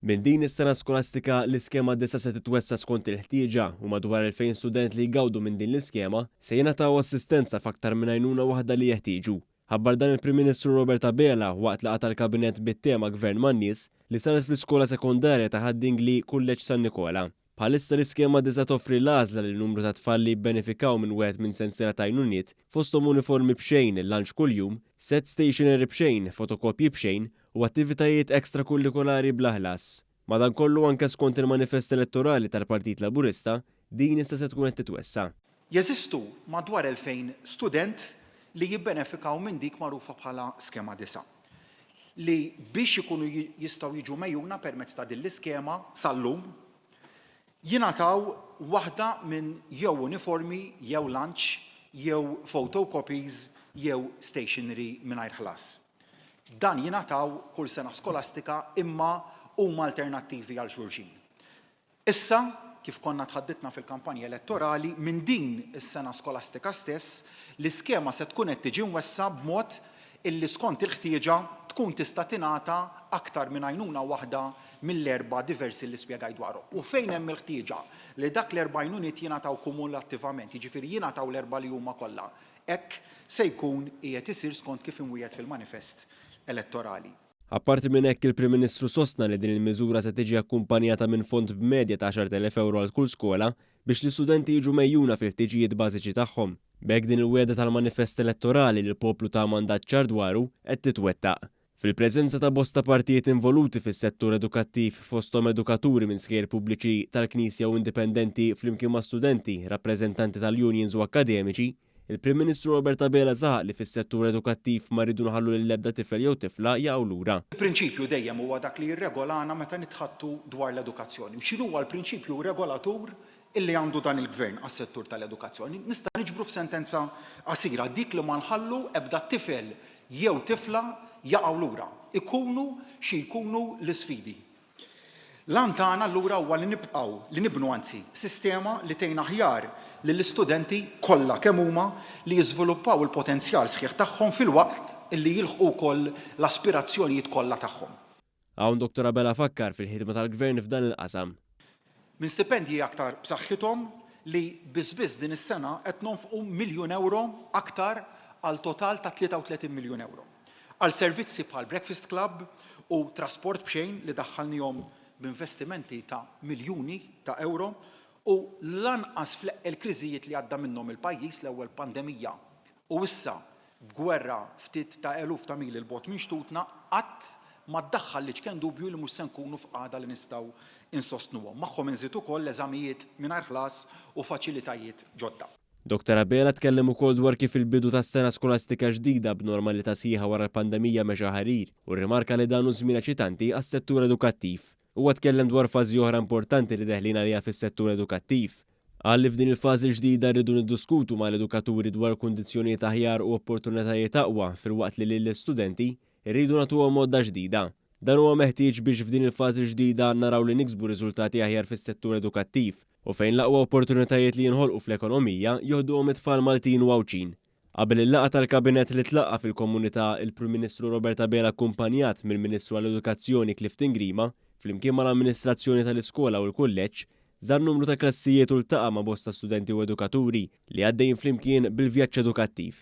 Minn din is-sena skolastika, l-iskema disa' se titwessa' skont il-ħtieġa u madwar 2,000 student li jgawdu minn din l-iskema se jingħataw assistenza f'aktar minn għajnuna waħda li jeħtieġu. Ħabbar dan il-Prim Ministru Robert Abela waqt laqgħa tal-Kabinett bit-tema Gvern man-Nies li saret fl-Iskola Sekondarja ta' Ħad-Dingli, Kulleġġ San Nikola. Bħalissa l-iskema diża' toffri l-għażla lil numru ta' tfal li jibbenefikaw minn wieħed minn sensiela ta' għajnuniet, fosthom uniformi b'xejn, lunch kuljum, sett stationery b'xejn, fotokopji b'xejn u attivitajiet ekstrakullikolari bla ħlas. Madankollu, anke skont il-manifest elettorali tal-Partit Laburista, din issa se tkun qed titwessa'. Jeżistu madwar 2,000 student li jibbenefikaw minn dik magħrufa bħala Skema Disa', li biex ikunu jistgħu jiġu megħjuna permezz ta' din l-iskema sal-lum jingħataw waħda minn jew uniformi jew lunch jew photocopies jew stationery mingħajr ħlas. Dan jingħataw kull sena skolastika imma huma alternattivi għal xulxin. Issa, kif konna tħaddidna fil-kampanja elettorali, minn din is-sena skolastika stess, l-iskema se tkun qed tiġi mwessa b'mod illi skont il-ħtieġa tkun tista' tingħata aktar minn għajnuna waħda mill-erba' diversi li spjegajt dwarhom. U fejn hemm il-ħtieġa li dak l-erba' għajnuniet jingħataw kumulattivament, jiġifieri jingħataw l-erba' li huma kollha, hekk se jkun qiegħed isir skont kif imwiegħed fil-manifest elettorali. Apparti minn hekk, il-Prim Ministru sostna li din il-miżura se tiġi akkumpanjata minn fond b'medja ta' 10,000 ewro għal kull skola biex l-istudenti jiġu megħjuna fil-ħtiġijiet bażiċi tagħhom. B'hekk din il-wegħda tal-manifest elettorali li l-poplu ta mandat ċar dwaru qed titwettaq. Fil-preżenza ta' bosta partijiet involuti fis-settur edukattiv fosthom edukaturi minn skejjel pubbliċi, tal-Knisja u indipendenti flimkien ma' studenti, rappreżentanti tal-unions u akkademiċi, Il-Prim Ministru Robert Abela saħaq li fis-settur edukattiv ma rridu nħallu lil ebda tifel jew tifla jaqgħu lura. Il-prinċipju dejjem huwa dak li jirregolana meta nitħaddtu dwar l-edukazzjoni. U x'inhuwa l-prinċipju regolatur illi għandu dan il-Gvern għas-settur tal-edukazzjoni? Nista' niġbru f'sentenza qasira, dik li ma nħallu ebda tifel jew tifla jaqgħu lura, ikunu xi jkunu l-isfidi. L-għan tagħna allura huwa li nibqgħu, li nibnu anzi, sistema li tgħin aħjar lill-istudenti kollha kemm huma li jiżviluppaw il-potenzjal sħiħ tagħhom filwaqt li jilħqu wkoll l-aspirazzjonijiet kollha tagħhom. Hawn Dottor Abela fakkar fil-ħidma tal-Gvern f'dan il-qasam. Minn stipendji aktar b'saħħithom li biss biss din is-sena qed nonfqu miljun ewro aktar għal total ta' 33 miljun ewro għal servizzi bħal Breakfast Club u Trasport b'Xejn li daħħalniehom b'investimenti ta' miljuni ta' ewro u lanqas fl-eqqel kriżijiet li għadda minnhom il-pajjiż, l-ewwel pandemija U issa, b'gwerra ftit ta' eluf ta' mili 'l bogħod minn xtutna, qatt ma ddaħħal l-iċken dubju li mhux se nkunu f'qagħda li nistgħu nsostnuhom. Magħhom inżid ukoll eżamijiet mingħajr ħlas u faċilitajiet ġodda. Doktor Abela tkellem ukoll dwar kif il-bidu tas-sena skolastika ġdida b'normalità sħiħa wara l-pandemija mexa ħarir u rrimarka li dan hu żmien eċitanti għas-settur edukattiv. Huwa tkellem dwar fażi oħra importanti li deħlin għaliha fis-settur edukattiv. Qal li f'din il-fażi l-ġdida rridu nidduskutu mal-edukaturi dwar kundizzjonijiet aħjar u opportunitajiet aqwa filwaqt li lill-istudenti rridu nagħtuhom għodda ġdida. Dan huwa meħtieġ biex f'din il-fażi l-ġdida naraw li niksbu riżultati aħjar fis-settur edukattiv u fejn l-aqwa opportunitajiet li jinħolqu fl-ekonomija joħduhom it-tfal Maltin u Għawdxin. Qabel il-laqgħa tal-Kabinett li tlaqqa' fil-Komunità, il-Prim Ministru Robert Abela akkumpanjat mill-Ministru għall-Edukazzjoni Clifton Grima, flimkien mal-amministrazzjoni tal-iskola u l-kulleġġ, żar numru ta' klassijiet u ltaqa' ma' bosta studenti u edukaturi li għaddejjin flimkien bil-vjaġġ edukattiv.